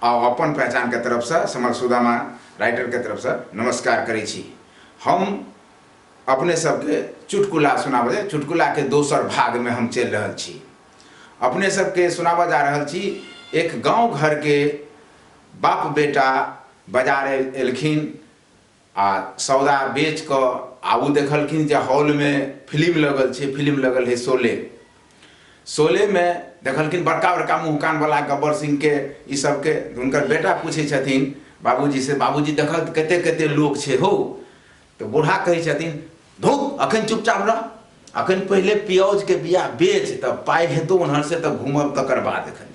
आ अपन पहचान के तरफ से समर सुदामा राइटर के तरफ से नमस्कार करे छी हम अपने सबके चुटकुला सुनाबे चुटकुला के दोसर भाग में हम चल रहल छी अपने सबके सुनाबऽ जा रहल छी एक गांव घर के बाप बेटा बाजार एलखिन आ सौदा बेच कऽ आ ओ देखलखिन जे हॉल मे फिलिम लगल छै फिलिम लगल है शोले शोले मे देखलखिन बड़का बड़का मुँह कान बला गब्बर सिंह के ई सब के हुनकर बेटा पूछै छथिन बाबूजी से बाबूजी देखऽ तऽ कते कते लोक छै हौ तऽ बूढ़ा कहै छथिन धुक अखन चुपचाप रह अखन पहिले पियौज के बिया बेच तऽ पाइ हेतौ ओनहर से तऽ घूमब तकर बाद एखन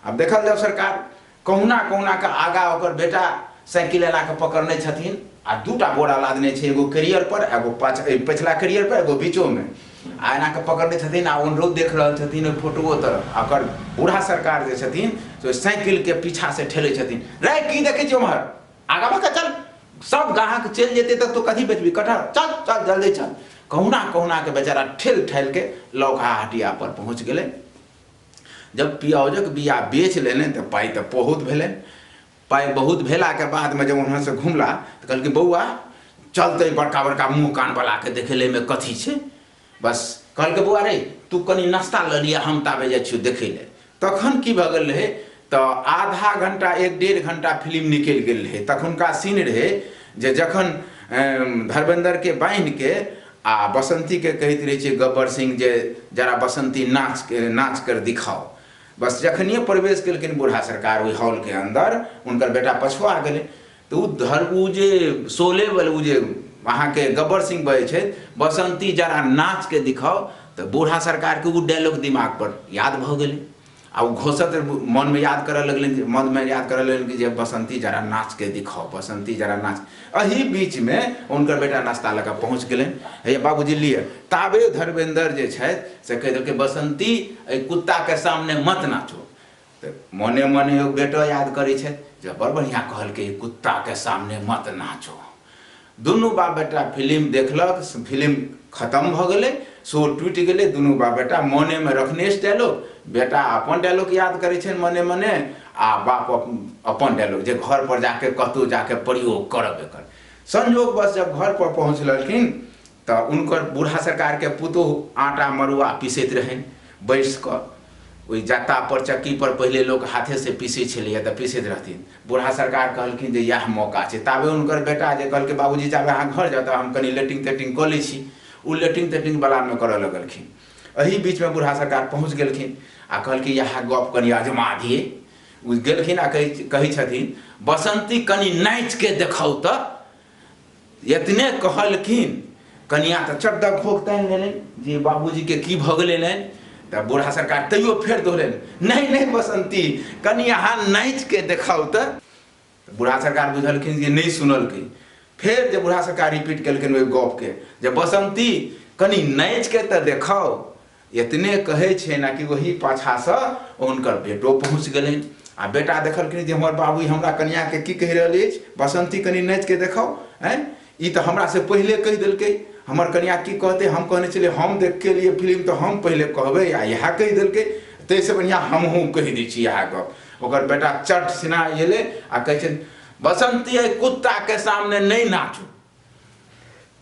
आब देखल जाउ सरकार कहुना कहुना कऽ आगा ओकर बेटा साइकिल एला कऽ पकड़ने छथिन आ दूटा बोरा लादने छै एगो कैरियर पर एगो पाछ पछिला कैरियर पर एगो बीचो में आ एना कऽ पकड़ने छथिन आ ओनरो देख रहल छथिन ओहि फोटोओ तरफ आ ओकर बूढ़ा सरकार जे छथिन से साइकिल के पीछा से ठेले छथिन रे की देखे छी उम्हर आगा भऽ चल सब ग्राहक चलि जेतै तऽ तू कथी बेचबी कटहर चल चल जल्दी चल कहुना कहुना के बेचारा ठेल ठालि के लौका हटिया पर पहुंच गेलै जब पियाउजक बिया बेच लेलनि तऽ पाइ तऽ बहुत भेलनि पाइ बहुत भेलाके बादमे जब वहाँसँ घुमला तऽ कहलकै बौआ चलतै बड़का बड़का मुँह कानवलाके देखै लए एहिमे कथी छै बस कहलकै बौआ रे तू कनि नाश्ता लऽ लिअ हम ताबे जाइ छियौ देखै लए तखन की भऽ गेल रहै तऽ आधा घंटा एक डेढ़ घंटा फिल्म निकलि गेल रहै तखुनका सीन रहै जे जखन धर्मेंद्रके बान्हिके आ बसन्तीकेँ कहैत रहै छै गब्बर सिंह जे जरा बसन्ती नाच नाच कर दिखाओ। बस जखनिये प्रवेश केलखिन बुढ़ा सरकार ओहि हॉलके अन्दर हुनकर बेटा पछुआ गेलै तऽ ओ धर ओ जे शोले बल ओ जे अहाँके गब्बर सिंह बजै छथि बसन्ती जरा नाच के दिखाओ तऽ बुढ़ा सरकारके ओ डायलॉग दिमाग पर याद भऽ गेलै। आ ओ घोसत मनमे याद करऽ लगलनि जे मनमे याद करऽ लगलनि कि जे बसन्ती जरा नाचके दिखाओ बसन्ती जरा नाच एहि बीचमे हुनकर बेटा नाश्ता लऽ कऽ पहुँच गेलनि हे बाबूजी लिअ ताबे धर्मेन्द्र जे छथि से कहि देलकै बसन्ती एहि कुत्ताके सामने मत नाचो तऽ मने मने ओ बेटो याद करै छथि जे बड़ बढ़िआँ कहलकै कुत्ताके सामने मत नाचो दुनू बाप बेटा फिलिम देखलक फिलिम खतम भऽ गेलै शो टूटि गेलै दुनू बाप बेटा मोनेमे रखने अछि डायलॉग बेटा अपन डायलॉग याद करै छनि मने मने आ बाप अपन डायलॉग जे घर पर जाके कतहु जाके प्रयोग करब एकर संजोग बस जब घर पर पहुँचलखिन तऽ उनकर बूढ़ा सरकारके पुतोह आटा मड़ुआ पीसैत रहनि बैस कऽ ओहि जत्तापर चक्कीपर पहिले लोक हाथेसँ पीसैत छलैए तऽ पीसैत रहथिन बुढ़ा सरकार कहलखिन जे इएह मौका छै। ताबे हुनकर बेटा जे कहलकै बाबूजी जाबे अहाँ घर जाउ ताबे हम कनी लेटिंग-तेटिंग कऽ लै छी। ओ लेटिंग-तेटिंग बलामे करऽ लगलखिन। एही बीचमे बुढ़ा सरकार पहुँच गेलखिन आ कहलखिन इएह गप कनी अजमा दियै। ओ गेलखिन आ कहै छथिन बसन्ती कनी नाचिके देखाउ तऽ। एतने कहलखिन कनिया तऽ चकदक भोग तानि लेलनि जे बाबूजीके की भऽ गेलनि तऽ बूढ़ा सरकार तैयो फेर दोहरेलनि नहि नहि बसन्ती कनि अहाँ नाचिके देखाउ तऽ बूढ़ा सरकार बुझलखिन जे नहि सुनलखिन फेर जे बूढ़ा सरकार रिपीट केलखिन ओहि गपके जे बसन्ती कनि नाचिके तऽ देखाउ एतने कहै छनि आ कि ओही पाछासँ हुनकर बेटो पहुँच गेलनि आ बेटा देखलखिन जे हमर बाबू हमरा कनियाके की कहि रहल अछि बसन्ती कनि नाचिके देखाउ आँय ई तऽ हमरासँ पहिले कहि देलकै हमर कनिया की कहतै हम कहने छलियै हम देखके एलियै फिल्म तऽ हम पहिले कहबै आ इएह कहि देलकै ताहिसँ बढ़िआँ हमहूँ कहि दै छी इएह गप ओकर बेटा चट सिना एलै आ कहै छै बसंती एहि कुत्ताके सामने नहि नाचू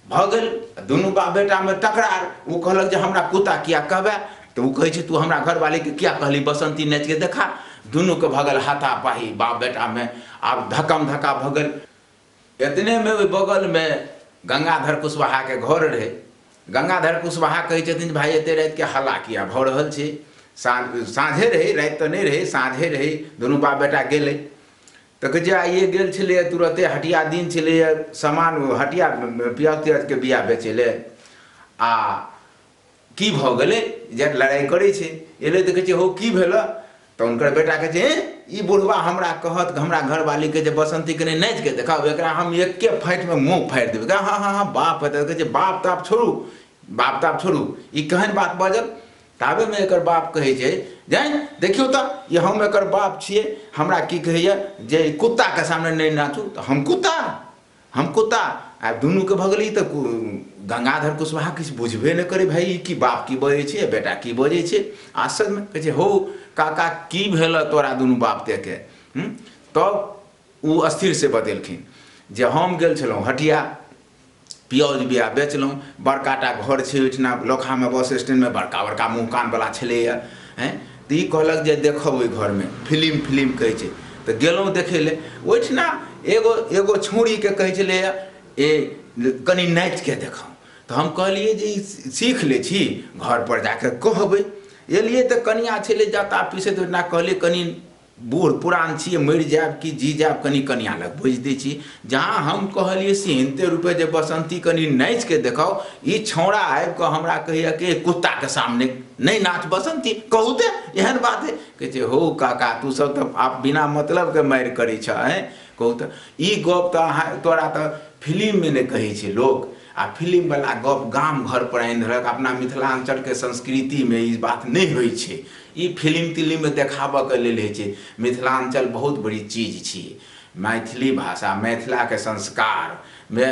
भऽ गेल दुनू बाप बेटामे तकरार ओ कहलक जे हमरा कुत्ता किया कहबै तऽ ओ कहै छै तू हमरा घरवालीके किया कहली बसन्ती नाचिके देखा दुनूके भऽ गेल हाथापाही बाप बेटामे आब धक्कम धक्का भऽ गेल एतनेमे ओहि बगलमे गंगाधर कुशवाहाके घर रहै गंगाधर कुशवाहा कहै छथिन जे भाय एते रातिके हल्ला किया भऽ रहल छै साँझ साँझे रहै राति तऽ नहि रहै साँझे रहै दुनू बाप बेटा गेलै तऽ कहै छै आइए गेल छलैए तुरते हटिया दिन छलैए सामान हटिया पियाज तियाजके बिया बेचै लए आ की भऽ गेलै जे लड़ाइ करै छै एलै तऽ कहै छै हौ की भेलऽ तऽ हुनकर बेटा कहै छै ई बुढ़वा हमरा कहत हमरा घरवाली कहै छै बसन्ती कने नाचिके देखाउ एकरा हम एके फाँटिमे मुँह फाड़ि देबै कहै हँ हँ हँ बाप हेतै कहै छै बाप ताप छोड़ू बाप ताप छोड़ू ई केहन बात बाजल ताबेमे एकर बाप कहै छै जानि देखियौ तऽ ई हम एकर बाप छियै हमरा की कहैए जे ई कुत्ताके सामने नहि नाचू तऽ हम कुत्ता हम कुत्ता आ दुनूके भऽ गेलै तऽ गंगाधर कुशवाहा किछु बुझबे नहि करै भाय ई की बाप की बजै छै बेटा की बजै छै आश्चर्यमे कहै छै हौ काका की भेल तोरा दुनू बाप तेके तब ओ स्थिर से बतेलखिन जे हम गेल छलहुँ हटिया पियौज बिया बेचलहुँ बड़का टा घर छै ओहिठिना लोकहामे बस स्टैण्डमे बड़का बड़का मुँह कानवला छलैए हँ तऽ ई कहलक जे देखब ओहि घरमे फिलिम फिलिम कहै छै तऽ गेलहुँ देखै लए ओहिठिना एगो एगो छौड़ीके कहै छलैए ए कनि नाचिके देखाउ तऽ हम कहलियै जे ई सीख लै छी घरपर जा कऽ कहबै एलियै तऽ कनिआँ छलै जटा पीसैत ओहिठिना कहलियै कनि बूढ़ पुरान छियै मरि जायब कि जी जायब कनि कनियाँ लग भोजि दै छी। जहाँ हम कहलियै से हिनते रूपे जे बसन्ती कनि नाचि कऽ देखाउ, ई छौंड़ा आबि कऽ हमरा कहैए कि एहि कुत्ताक सामने नहि नाच बसन्ती, कहू ते एहन बात हे। कहै छै हौ काका तू सभ तऽ आब बिना मतलब के मारि करै छह हें। कहू तऽ ई गप्प तऽ अहाँ तोरा तऽ फिलिम मे ने कहै छै लोक। आ फिलिम बला गप्प गाम घर पर आनि देलक। अपना मिथिलाञ्चल के संस्कृति मे ई बात नहि होइ छै। ई फिलिम तिलिम मे देखाबऽ के लेल होइ छै मिथिलांचल बहुत बड़ी चीज छी मैथिली भाषा मैथिला के संस्कार मे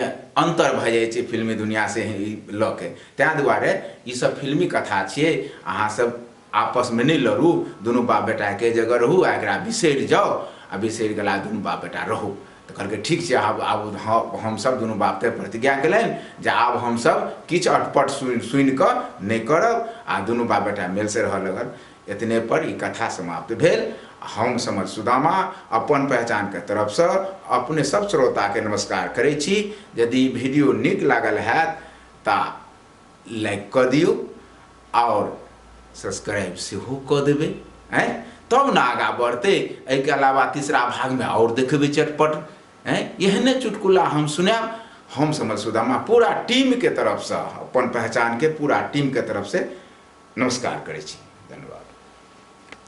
अंतर भऽ जाइ छै फिल्मी दुनिया से ई लऽ के तैं दुआरे ई सब फिल्मी कथा छियै अहाँ सब आपस मे नहि लड़ू दुनू बाप बेटा एके जगह रहू आ एकरा बिसरि जाउ आ बिसरि गेला दुनू बाप बेटा रहू तऽ कहलकै ठीक छै आब आब हम हमसभ दुनू बाप तय प्रतिज्ञा केलनि जे आब हमसभ किछु अटपट सुनि सुनि कऽ नहि करब आ दुनू बाप बेटा मेलसँ रहऽ लगल एतने पर ई कथा समाप्त भेल हम समझ सुदामा अपन पहचानके तरफसँ अपने सभ श्रोताके नमस्कार करै छी यदि ई वीडियो नीक लागल हैत तऽ लाइक कऽ दियौ आओर सब्सक्राइब सेहो कऽ देबै आँय तब ने आगाँ बढ़तै एहिके अलावा तीसरा भागमे आओर देखबै चटपट आँय एहने चुटकुला हम सुनायब हम समझ सुदामा पूरा टीमके तरफसँ अपन पहचानके पूरा टीमके तरफसँ नमस्कार करै छी धन्यवाद